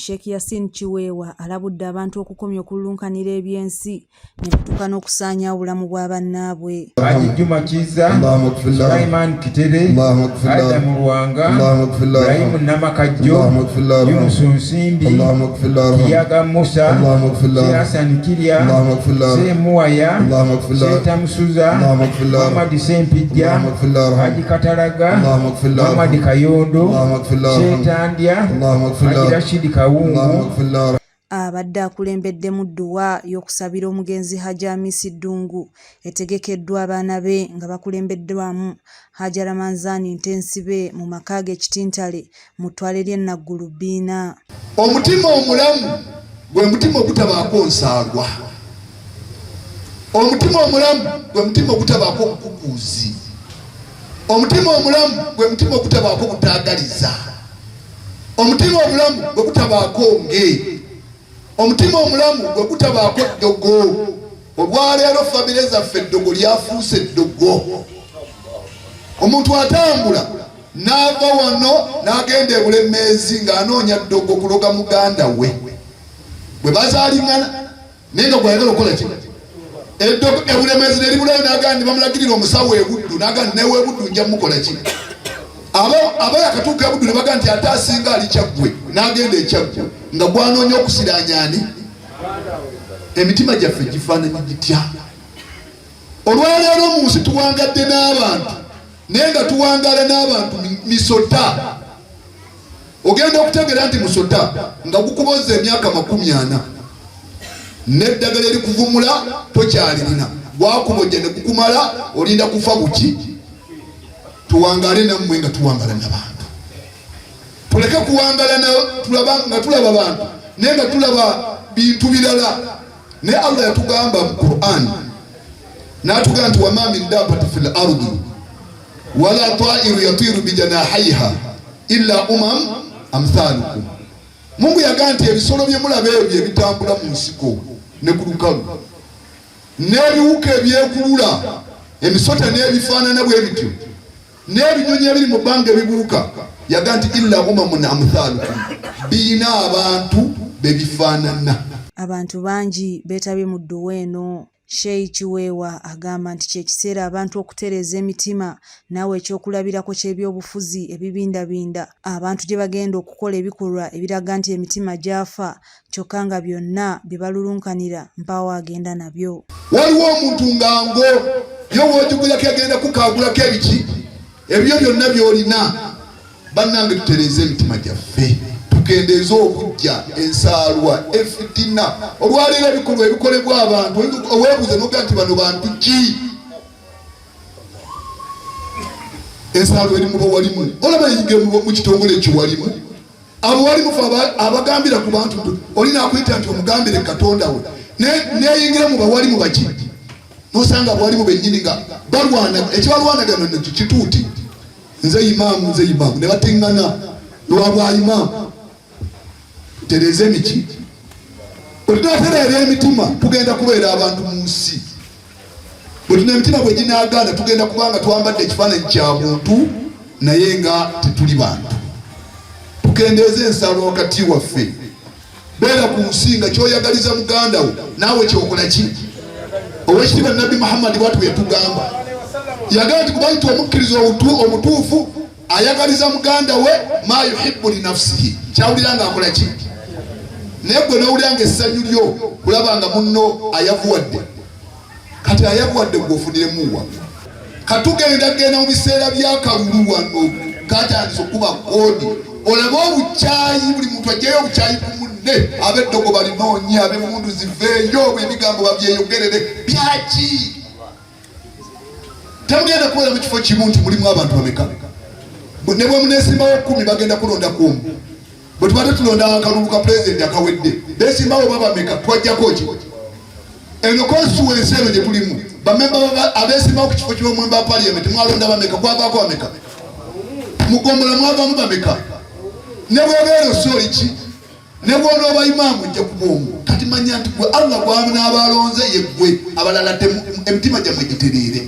Sheikh Yasin Kiweewa alabudde abantu okukomya okululunkanira eby'ensi ne batuuka n'okusaanya obulamu bwa bannaabwe. Haji Juma Kiza, Sulaiman Kitere, Adam Lwanga, Ibrahim Namakajjo, Yunus Nsimbi, Kiyaga Musa, Hassan Kirya, Semuwaya, Seeta Musuza, Muhammad Sempijja, Haji Katalaga, Muhammad Kayondo, Seeta abadde akulembeddemu dduwa y'okusabira omugenzi Hajji Amisi Ddungu etegekeddwa abaana be nga bakulembeddwamu Hajji Ramanzani Ntensibe mu maka ge Kitintale mu ttwale ly'e Naggulu Bbiina. Omutima omulamu gwe mutima ogutabaako nsaagwa. Omutima omulamu gwe mutima ogutabaako obukukuuzi. Omutima omulamu gwe mutima ogutabaako butaagaliza. Omutima omulamu gwe gutabaako nge. Omutima omulamu gwe gutabaako eddogo. Olwaleero famire zaffe eddogo lyafuuse eddogo. Omuntu atambula n'ava wano n'agenda ebulemeezi ng'anoonya ddogo kuloga muganda we bwe bazaalingana naye nga gwayagala okukola ki ebulemezi neribulayo nagaa nti bamulagirira omusawo ebuddu nagaa nti newe ebuddu nja mukola ki aba yakatuuka ebuddu nebagaa nti ate asinga ali kyaggwe nagenda ekyaggwe nga gwanoonya okusiranyani emitima gyaffe gifaananyi gitya olwaleero mu nsi tuwangadde n'abantu naye nga tuwangaala n'abantu misota Ogenda okutegeera nti musota nga gukuboza emyaka makumi ana n'eddagala erikuvumula tokyalirina gwakubojja ne gukumala olinda kufa buki tuwangale nammwe nga tuwangala nabantu tuleke kuwangala nga tulaba bantu naye nga tulaba bintu birala naye allah yatugamba mu quran natugamba nti wama min dabati fi lardi wala tairu yatiru bijanahaiha illa umam amthalukum. Mungu yagaa nti ebisolo byemulaba ebyo ebitambula mu nsiko ne ku lukalu n'ebiwuka ebyekulula emisota n'ebifaanana bwe bityo n'ebinyonyi ebiri mu bbanga ebibuuka yaga nti illa umamun amthalukum biyina abantu bebifaanana abantu bangi beetabye mu dduwa eno Sheyi Kiweewa agamba nti ky'ekiseera abantu okutereeza emitima n'awa eky'okulabirako ky'ebyobufuzi ebibindabinda abantu gye bagenda okukola ebikolwa ebiraga nti emitima gyafa kyokka nga byonna bye balulunkanira mpaawo agenda nabyo. Waliwo omuntu nga ngo ye w'ojugulako yagenda kukaagulako ebiki ebibyo byonna by'olina. bannange tutereeze emitima gyaffe tukendeeze okujja ensaalwa efitina olwaleero ebikolwa ebikolebwa abantu owebuuza noga nti bano bantu ki ensaalwa eri muba walimu olaba yinge mu kitongole ekyo walimu abo walimu fe abagambira ku bantu oli nakuyita nti omugambire katonda we neyingira mu bawalimu baki nosanga bwalimu bennyini nga balwana ekibalwanagano nekyo kituuti nze imaamu nze imaamu ne bateŋŋana lwa bwa imaamu tereeza emiti bwetunatereera emitima tugenda kubeera abantu mu nsi bwetuna emitima bwe ginaagaana tugenda kuba nga twambadde ekifaananyi kya muntu naye nga tetuli bantu tukendeeza ensalo wakati waffe beera ku nsi nga kyoyagaliza muganda wo naawe kyokola ki owekitiibwa nabbi muhammadi bwatu yatugamba yagamba nti kubaita omukkiriza omutuufu ayagaliza muganda we ma yuhibu linafsihi kyawulira nga akola ki naye gwe nowulira nga essanyu lyo kulaba nga munno ayavuwadde kati ayakuwadde gwe ofuniremu wa katugenda genda mu biseera byakalulu wano katandisa okuba kodi olaba obukyayi buli muntu ajjayo obukyayi ku munne abeddogo balinoonye abemundu ziveeyo obwo ebigambo babyeyogerere byaki temugenda kubeera mu kifo kimu nti mulimu abantu bameka ne bwemunesimbawo kumi bagenda kulonda kuomu Bwe tubadde tulonda akalulu ka pulezidenti akawedde, beesimbawo oba bameka twajjako ki? Eno konstituwensi eno gye tulimu, bamemba abeesimbawo ku kifo ky'omwemba wa paliyamenti mwalonda bameka? Kwavaako bameka? Mu ggombolola mwavaamu bameka? Ne bw'obeera ossa oli ki? Ne bw'onooba imaamu ojja kuba omu. Kati manya nti gwe Allah gw'abanaabalonze ye ggwe, abalala emitima gyammwe gitereere.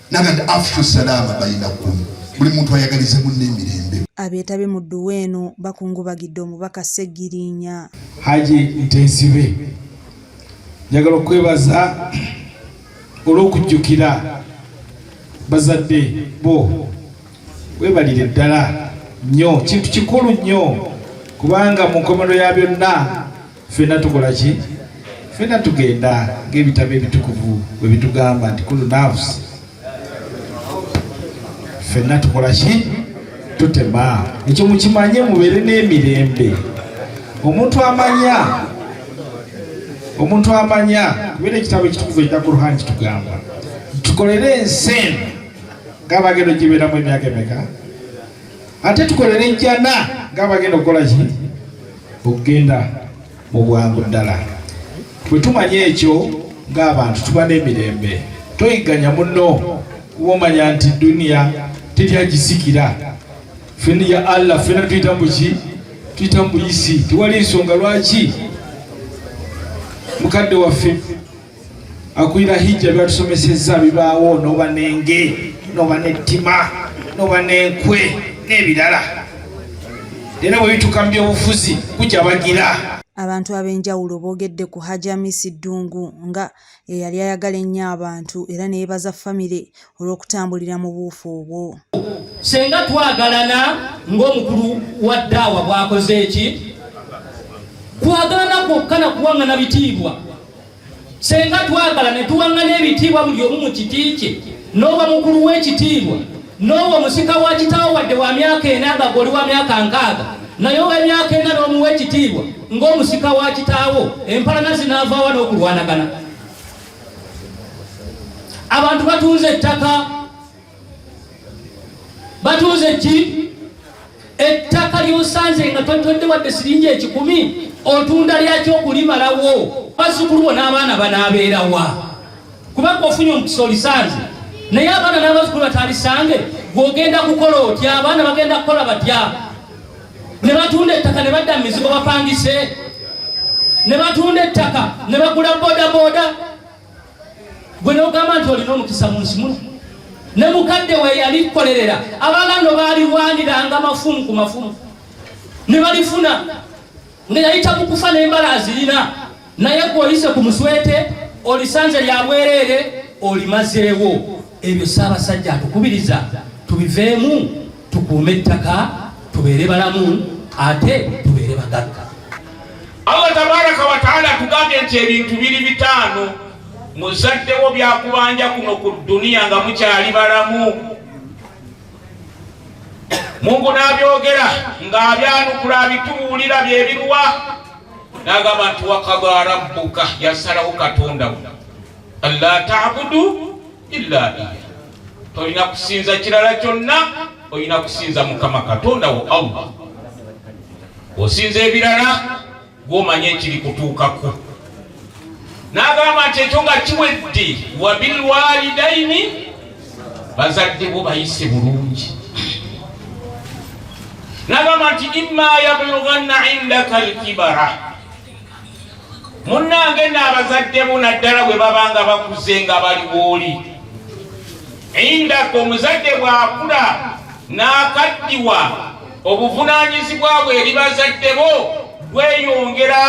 nagati afshu salama bainakum buli muntu ayagalize munne emirembe abeetabe mu dduwa eno bakungubagidde omubaka ssegirinya haji ntezibe njagala okwebaza olw'okujjukira bazadde bo webalire ddala nnyo kintu kikulu nnyo kubanga mu nkomerero ya byonna ffenna tukola ki ffenna tugenda ng'ebitabo ebitukuvu bwe bitugamba nti kulu nafusi ffenna tukola ki tutema ekyo mukimanye mubeere n'emirembe omuntu amanya omuntu amanya kubeera ekitabo ekitukuvu ekya kuruhan kitugamba tukolere ensi eno ng'abagenda ogibeeramu emyaka emeka ate tukolere ejjana ng'abagenda okukola ki okugenda mu bwangu ddala bwe tumanya ekyo ng'abantu tuba n'emirembe toyigganya muno kuba omanya nti duniya teri agisikira fena ya allah fena tuyita muki tuyita mubuyisi tewali nsonga lwaki mukadde waffe akulira hijja byatusomesezza bibaawo noba nenge noba nettima noba nenkwe n'ebirala era bwe bituka mu byobufuzi kujabagira abantu ab'enjawulo boogedde ku hajamisi ddungu nga eyali ayagala ennyo abantu era neyebaza famire olw'okutambulira mu buufu obwo. Senga twagalana ng'omukulu wa ddaawa bw'akoze eki twagalana kwokka na kuwaŋŋana bitiibwa. Senga twagala ne tuwaŋŋana ebitiibwa buli omu mu kiti kye n'oba mukulu w'ekitiibwa n'oba omusika wa kitaawo wadde wa myaka ena nga goli wa myaka nkaaga naye ow'emyaka ena n'omuwa ekitiibwa ng'omusika wa kitaawo empalana zinaavaawa n'okulwanagana. abantu batunze ettaka batunze ki ettaka lyosanze nga totodde wadde siringi ekikumi otunda lyaki okulimalawo bazukulu bona abaana banaabeerawa kubanga ofunye omukisa olisanze naye abaana n'abazukulu batalisange gwogenda kukola otya abaana bagenda kukola batya ne batunda ettaka ne badda mu mizigo bapangise ne batunda ettaka ne bagula bodaboda gwe nogamba nti olina omukisa mu nsi muno ne mukadde we yali kukolerera abaganda baalirwaniranga mafumu ku mafumu ne balifuna nga yayita mu kufa n'embala azirina naye gwe oyise ku muswete olisanze lya bwereere olimazeewo ebyo ssaabasajja atukubiriza tubiveemu tukuume ettaka tubeere balamu ate tubeere bagagga allah tabaraka wataala atugambye nti ebintu biri bitaano muzaddewo byakubanja kuno ku duniya nga mukyali balamu Mungu n'abyogera ng'abyanukula abitubuulira bye biruwa n'agamba nti wakada rabbuka yasalawo katonda wo alla tabudu illa iya tolina kusinza kirala kyonna olina kusinza mukama katonda wo allah osinza ebirala gw'omanyi ekiri kutuukako n'agamba nti ekyo nga kiwedde wabilwalidaini bazadde bo bayise bulungi n'agamba nti imma yablughanna indaka lkibara munnange n'abazadde bo naddala bwe babanga bakuze nga bali wooli indaka omuzadde bw'akula n'akaddiwa obuvunaanyizibwa bwe eri bazadde bo bweyongera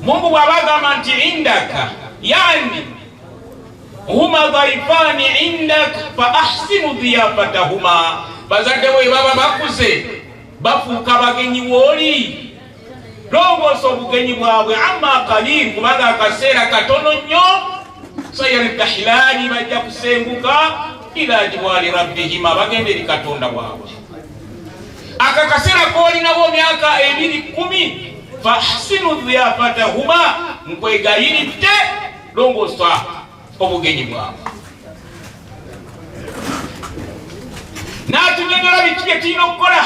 mungu bw'aba agamba nti indaka yani huma dhaifani indaka fa ahsinu dhiyafatahuma bazadde bo ebaba bakuze bafuuka bagenyi wooli longoosa obugenyi bwabwe amma kalil kubanga akaseera katono nnyo sayaldahilaani bajja kusenguka ila jiwaali rabbihima bagenda eri katonda waabwe aka kaseera koolinawo myaka ebiri kumi fahsinu dhiyafatahuma nkwegayiridde longoosa obugenyi bwabwe n'atunyonyola biki bye tulina okukola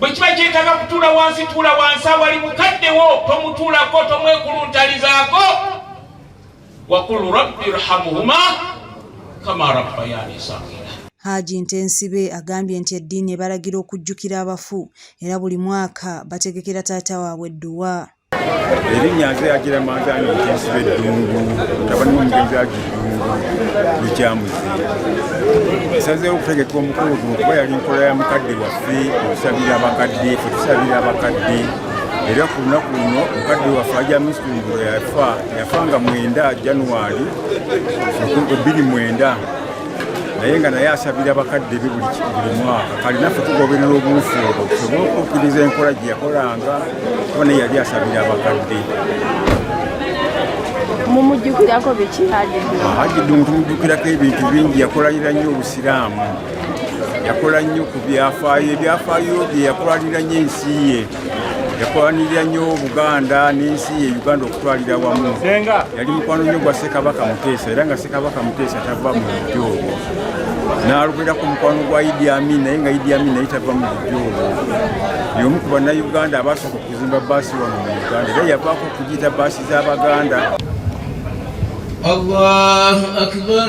bwe kiba kyetaaga kutuula wansi tuula wansi awali mukaddewo tomutuulako tomwekuluntalizaako wakul rabbi irhamuhuma kama rabbayani sagira Haji Ntensibe agambye nti eddiini ebalagira okujjukira abafu era buli mwaka bategekera taata waabwe edduwa. erinnya nze yagira manzani mugenzi beddungu mutabani womugenzi agiddungu lukyamuzi esazeewo okutegeka omukulu guno kuba yali nkola ya mukadde waffe okusabira abakadde fe tusabira abakadde era ku lunaku luno mukadde waffe aja misumbulo yafa yafa nga mwenda januwali 2 mwenda naye nga naye asabira bakadde be buli mwaka kali naffe tugoberera obuufu obwo tusobole okukkiriza enkola gye yakolanga kuba naye yali asabira abakadde mumujjukirako biki hajiddu mutumujjukirako ebintu bingi yakolalira nnyo obusiraamu yakola nnyo ku byafaayo ebyafaayo bye yakolalira nnyo ensi ye yakwanirira nnyo buganda n'ensi ye uganda okutwalira wamu yali mukwano nnyo gwa ssekabaka muteesa era nga ssekabaka muteesa tava mu bujja obwo n'alogerako mukwano gwa idi amin naye nga idi amin naye tava mu bujja obwo yomu ku bannayuganda abaasooka okuzimba baasi wano mu uganda era yavaako okugiyita baasi z'abaganda allahu akbar